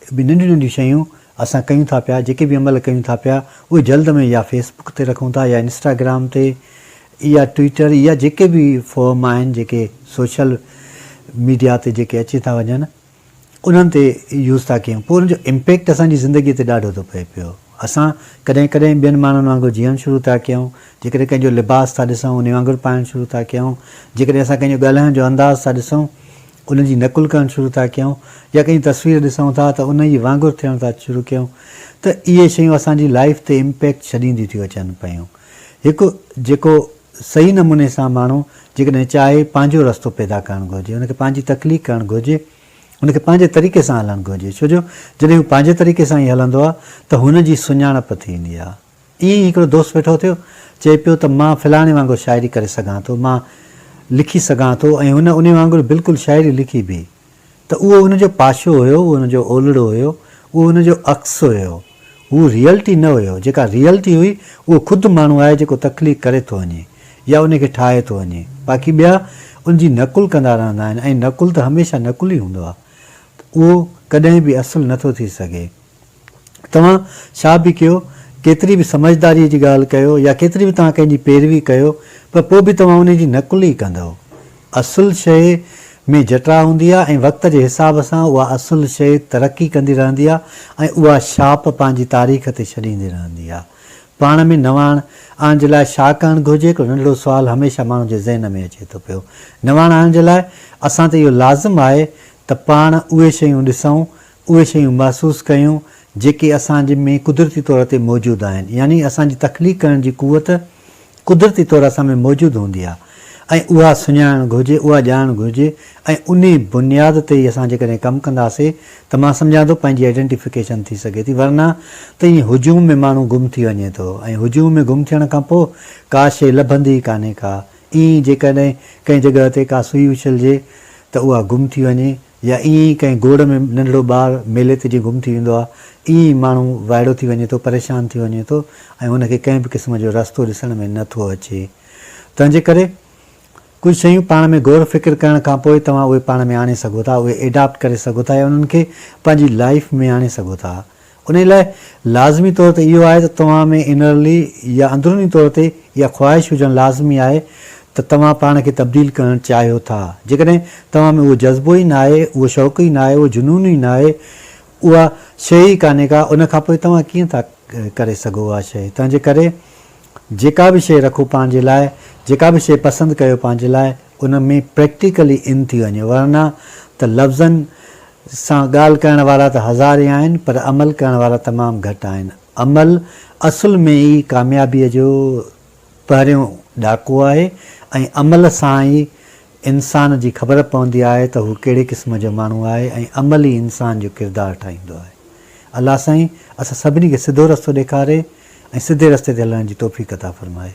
اهي به ننڍيون ننڍيون شيون اسان ڪيون ٿا پيا، جيڪي به عمل ڪيون ٿا پيا اهي جلد ۾ يا فيس بڪ تي رکون ٿا يا انسٽاگرام تي يا ٽوئيٽر يا جيڪي به فورم آهن جيڪي سوشل ميڊيا تي جيڪي اچي ٿا وڃن انهن تي يوز ٿا ڪيون پوء ان جو امپيڪٽ اسان جي زندگي تي ڏاڍو ٿو پئي پيو اسان ڪڏهن ڪڏهن ٻين ماڻهن وانگر جيئڻ شروع ٿا ڪيون جيڪڏهن ڪنهن جو لباس ٿا ڏسون انهي وانگر پائڻ شروع ٿا ڪيون جيڪڏهن اسان ڪنهن جو ڳالهائڻ جو انداز ٿا ڏسون ان جي نقل ڪرڻ شروع ٿا ڪيون يا ڪنهن جي تصوير ڏسون ٿا ته ان ئي وانگر ٿيڻ ٿا شروع ڪيون ته اهي شيون اسان جي لائيف تي امپيڪٽ ڇڏينديون ٿيون اچن پيون هڪ جيڪو صحيح نموني سان ماڻهو جيڪڏهن چاهي پنهنجو رستو پيدا ڪرڻ گهرجي ان کي پنهنجي تخليق ڪرڻ گهرجي ان کي پنهنجي طريقي سان هلڻ گهرجي ڇو جو جڏهن هو پنهنجي طريقي سان ئي هلندو آهي ته هن جي سڃاڻپ ٿيندي آهي. ائين ئي هڪڙو دوست ويٺو ٿيو، چئي پيو ته مان فلاڻي وانگر شاعري ڪري سگهان ٿو، مان لکي سگهان ٿو ۽ هن انهي وانگر بلڪل شاعري لکي به ته اهو ان جو پاشو هيو، اهو ان جو اولڙو هيو، اهو ان جو عڪس هيو، هو ريئلٽي نه هيو، جيڪا ريئلٽي هئي اهو خود ماڻهو آهي جيڪو تخليق ڪري ٿو وڃي يا انهي کي ٺاهي ٿو وڃي، باقي ٻيا ان جي نقل ڪندا رهندا آهن ۽ نقل ته هميشه نقل ئي هوندو آهي، اهو ڪڏهن به اصل نه ٿو ٿي سگهي. توهان ڇا به ڪيو، ڪيتري به سمجهداريء جي ڳالهه ڪيو يا ڪيتري به توهان ڪنهن جي پيروي ڪيو پر پوء به توهان ان جي نقل ئي ڪندؤ. اصل شيء ۾ جٽاء هوندي آهي ۽ وقت جي حساب سان اها اصل شيء ترقي ڪندي رهندي آهي ۽ اها ڇاپ پنهنجي تاريخ تي ڇڏيندي رهندي آهي. پاڻ ۾ نواڻ آڻ جي لاء ڇا ڪرڻ گهرجي هڪڙو ننڍڙو سوال هميشه ماڻهن جي ذهن ۾ اچي ٿو پيو. نواڻ آڻڻ جي لاء اسان تي اهو لازم آهي ته پاڻ اهي شيون ڏسون اهي شيون محسوس ڪيون جيڪي اسان جي ۾ قدرتي طور تي موجود آهن يعني اسان جي تخليق ڪرڻ جي قوت قدرتي طور اسان ۾ موجود هوندي آهي ۽ اها سڃاڻڻ گهرجي اها ڄاڻڻ گهرجي ۽ انهي بنياد تي ئي اسان جيڪڏهن ڪم ڪنداسي ته مان سمجهان ٿو پنهنجي آئيڊينٽيفڪيشن ٿي سگهي ٿي ورنه ته ائين هجوم ۾ ماڻهو گم ٿي وڃي ٿو ۽ هجوم ۾ گم ٿيڻ کان پوء ڪا شيء لڀندي ئي ڪانهي ڪا ائين ئي جيڪڏهن ڪنهن جڳهه تي ڪا سوئي اڇلجي ته اها گم ٿي وڃي يا ائين ئي ڪنهن گوڙ ۾ ننڍڙو ٻار ميلي تي جيئن گم ٿي ويندو آهي، ائين ئي ماڻهو وائڙو ٿي وڃي ٿو، پريشان ٿي وڃي ٿو ۽ هن کي ڪنهن به قسم جو رستو ڏسڻ ۾ نه ٿو اچي. تنهنجي ڪري ڪجهه شيون پاڻ ۾ غور فڪر ڪرڻ کان پوء توهان اهي پاڻ ۾ آڻي سگهو ٿا، اهي ايڊاپٽ ڪري سگهو ٿا يا انهن کي پنهنجي لائيف ۾ آڻي سگهو ٿا. انهيء لاء لازمي طور تي اهو آهي ته توهان ۾ انرلي يا اندروني طور تي اها خواهش هجڻ لازمي آهي ته توهان پاڻ کي تبديل ڪرڻ چاهيو ٿا. جيڪڏهن توهان ۾ اهو جذبو ئي ناهي، اهو شوق ئي ناهي، اهو جنون ئي ناهي، اها شيء ئي ڪانهي ڪا، ان کان پوء توهان ڪيئن ٿا ڪري سگهو اها شيء؟ تنهنجي ڪري جيڪا به شيء رکو پنهنجي لاء، جيڪا به شيء پسند ڪيو پنهنجي لاء، ان ۾ پريڪٽيڪلي ان ٿي وڃو، ورنه ته لفظن سان ڳالهه ڪرڻ وارا ته هزارين آهن پر عمل ڪرڻ وارا تمام گهٽ آهن. عمل اصل ۾ ئي ڪاميابيء جو پهريون ڏاڪو آهي ۽ عمل سان ئي انسان جي خبر پوندي آهي ته هو ڪهڙي قسم جو ماڻهو آهي ۽ عمل ئي انسان جو ڪردار ٺاهيندو آهي. الله سائين اسان سڀني کي سڌو رستو ڏيکاري ۽ سڌي رستي تي هلڻ جي توفيق عطا فرمائي.